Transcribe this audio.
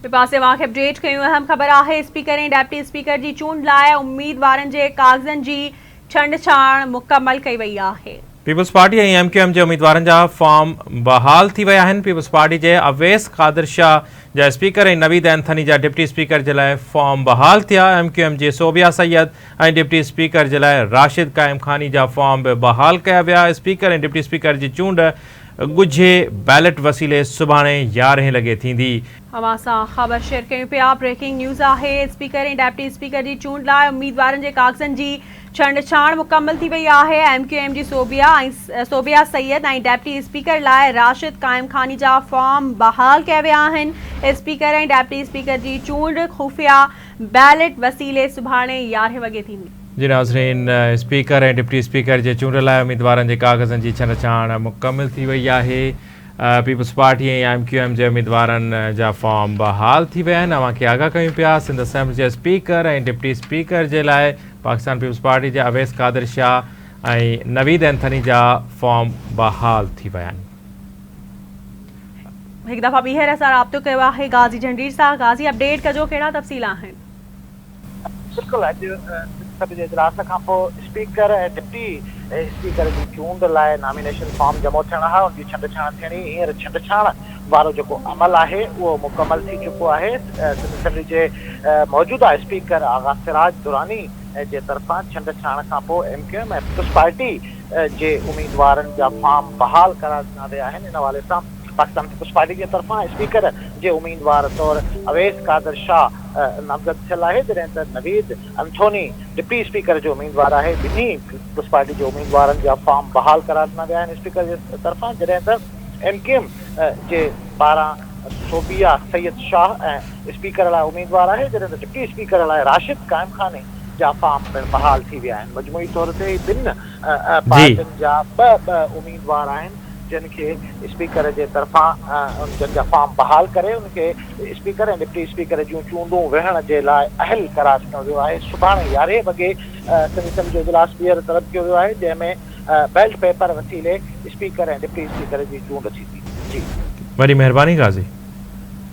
ٻئي پاسي واک اپڊيٽ ڪيون اهم خبر آهي اسپيڪر ۽ ڊپٽي اسپيڪر جي چونڊ لاء اميدوارن جي ڪاغذن جي ڇنڊڇاڻ مڪمل ڪئي وئي آهي. پيپلز پارٽي ۽ ايم ڪيو ايم جي اميدوارن جا فارم بحال ٿي ويا آهن، پيپلز پارٽي جي اويس قادر شاهه جا اسپيڪر ۽ نويد اينٿني جا ڊپٽي اسپيڪر جي لاء فارم بحال ٿيا، ايم ڪيو ايم جي صوبيا سيد ۽ ڊپٽي اسپيڪر جي لاء راشد قائم خاني جا فارم به بحال ڪيا ويا، اسپيڪر ۽ ڊپٽي اسپيڪر جي چونڊ ڳجهي بيلٽ وسيلي سڀاڻي يارهين لڳي ٿيندي. اوهان سان خبر شيئر ڪيون پيا بريڪنگ نيوز آهي اسپيڪر ۽ ڊپٽي اسپيڪر جي چونڊ لاء اميدوارن جي ڪاغذن جي ڇنڊڇاڻ مڪمل ٿي وئي آهي ايم ڪيو ايم جي صوبيا صوبيا سيد ۽ ڊپٽي اسپيڪر لاء راشد قائم خاني جا فارم بحال ڪيا ويا آهن اسپيڪر ۽ ڊپٽي اسپيڪر جي چونڊ خفيا بيلٽ وسيلي سڀاڻي يارهين وڳي ٿيندي. جي ناظرين اسپيڪر ۽ ڊپٽي اسپيڪر جي چونڊ لاء اميدوارن جي ڪاغذن جي ڇنڊڇاڻ مڪمل ٿي وئي آهي پيپلز پارٽي ۽ ايم ڪيو ايم جي اميدوارن جا فارم بحال ٿي ويا آهن اوهان کي آگاهه ڪيون پيا سنڌ اسيمبلي جي اسپيڪر ۽ ڊپٽي اسپيڪر جي لاء پاڪستان پيپلز پارٽي جي اويس قادر شاهه ۽ نويد اينٿني جا فارم بحال ٿي ويا آهن هڪ دفعا ٻيهر اسان رابطو ڪيو آهي غازي جهنڊير سان غازي اپڊيٽ ڪجو ڪهڙا تفصيل آهن. بلڪل اڄ سينيٽ جي اجلاس کان پوء اسپيڪر ۽ ڊپٽي اسپيڪر جي چونڊ لاء نامينيشن فارم جمع ٿيڻا ها ان جي ڇنڊڇاڻ ٿيڻي هينئر ڇنڊڇاڻ وارو جيڪو عمل آهي اهو مڪمل ٿي چڪو آهي سنڌ اسيمبلي جي موجوده اسپيڪر آغا سراج دراني جي طرفان ڇنڊڇاڻ کان پوء ايم ڪيو ايم ۽ پيپلز پارٽي جي اميدوارن جا فارم بحال ڪرائي ڏنا ويا آهن ان حوالي سان پاڪستان پيپلز پارٽي جي طرفان اسپيڪر جي اميدوار طور اويس قادر شاهه نامزد ٿيل آهي جڏهن ته نويد انٿوني ڊپٽي اسپيڪر جو اميدوار آهي ٻنهي پيپلز پارٽي جي اميدوارن جا فارم بحال ڪرائي ڏنا ويا آهن اسپيڪر جي طرفان جڏهن ته ايم ڪيو ايم جي پاران صوبيه سيد شاهه اسپيڪر لاء اميدوار آهي جڏهن ته ڊپٽي اسپيڪر لاء راشد قائم خاني جا فارم پڻ بحال ٿي ويا آهن مجموعي طور تي ٻن پارٽين جا ٻه ٻه اميدوار آهن جن کي اسپيڪر جي طرفان جن جا فارم بحال ڪري ان کي اسپيڪر ۽ ڊپٽي اسپيڪر جون چونڊون ويهڻ جي لاء اهل قرار ڏنو ويو آهي سڀاڻي يارهين وڳي ڪميشن جو اجلاس ٻيهر طلب ڪيو ويو آهي جنهن ۾ بيلٽ پيپر وسيلي اسپيڪر ۽ ڊپٽي اسپيڪر جي چونڊ ٿيندي جي وڏي مهرباني غازي.